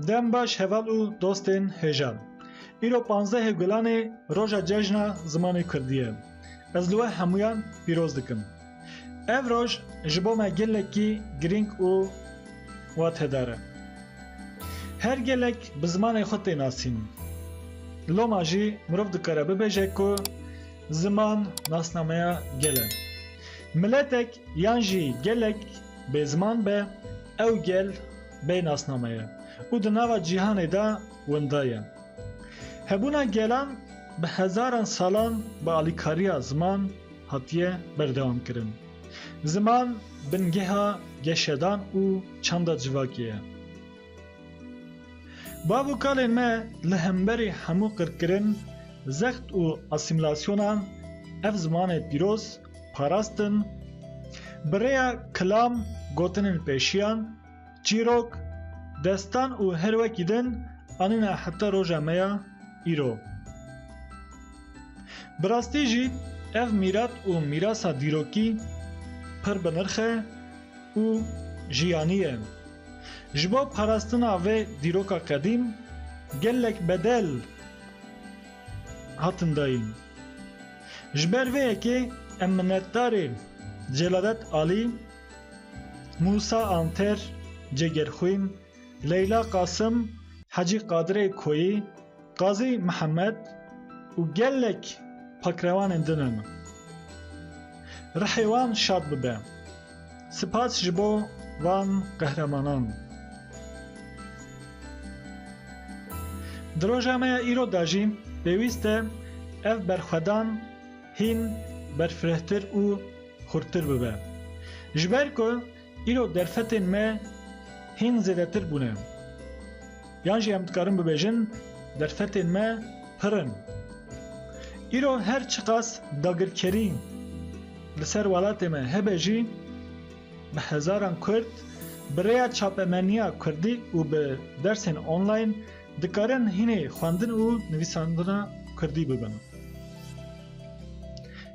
Dem baş heval û dostên hêjan. Îro panzdehê Gulanê roja cejna zimanê Kurdî ye. Ez li we hemûyan pîroz dikim. Ev roj ji bo me gelekî girîng û watedar e. Her gelek bi zimanê xwe tê nasîn. Loma jî mirov dikare bibêje ku Ziman nasnameya gel e. Miletek yan jî gelek bêziman be, ew gel bê nasname ye û di nava cîhanê de winda ye. Hebûna gelan bi hezaran salan bi alîkariya ziman hatiye berdewamkirin. Ziman bingeha geşedan û çanda civakê ye. Bav û kalên me li hemberî hemû qirkirin, zext û asîmîlasyonan ev zimanê pîroz parastin, bi rêya kilam, gotinên pêşiyan, çîrok, destan û her wekî din anîne heta roja me ya îro. Bi rastî jî ev mîrat û mîrasa dîrokî pir bi nirx e û jiyanî ye. Ji bo parastina vê dîroka qedîm gelek bedel hatin dayîn. Ji ber vê yekê em minnetdarê Celadet Alî, Mûsa Anter, Cêgerxwîn, Leyla Qasim, Hecî Qadirê Koyî, Qazî Mihemed û gelek pakrewanên din e min. Rihê wan şad bibe. Sipas ji bo van qehremanan. Di roja me ya îro de jî pêwîst e ev berxwedan hîn berfirehtir û xurttir bibe. Ji ber ku Îro derfetên me hîn zêdetir bûne. Yan jî em dikarin bibêjin derfetên me pir in. Îro her çiqas dagirkerî li ser welatê me hebe jî bi hezaran Kurd bi rêya çapemeniya Kurdî û bi dersên online dikarin hînê xwendin û nivîsandina Kurdî bibin.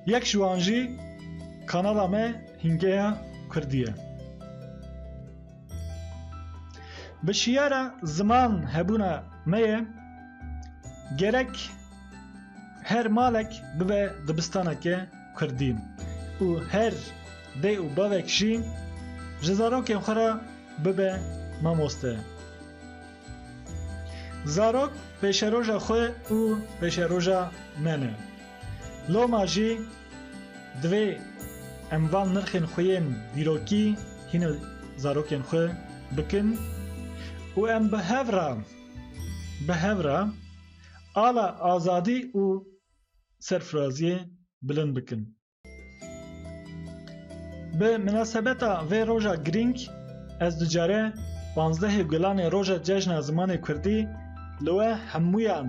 Yek ji wan jî kanala me Hingeya Kurdî ye. Bi şiyara ziman hebûna me ye gerek her malek bibe dibistaneke Kurdî û her dê û bavek jî ji zarokên xwe re bibe mamoste. Zarok pêşeroja xwe û pêşeroja me ne. Loma jî divê em van nirxên xwe yên dîrokî hîna zarokên xwe bikin û em bi hev re bi hev re ala azadî û serfiraziyê bilind bikin. Bi minasebeta vê roja girîng ez ducare panzdehê gulanê roja cejna zimanê kurdî li we hemûyan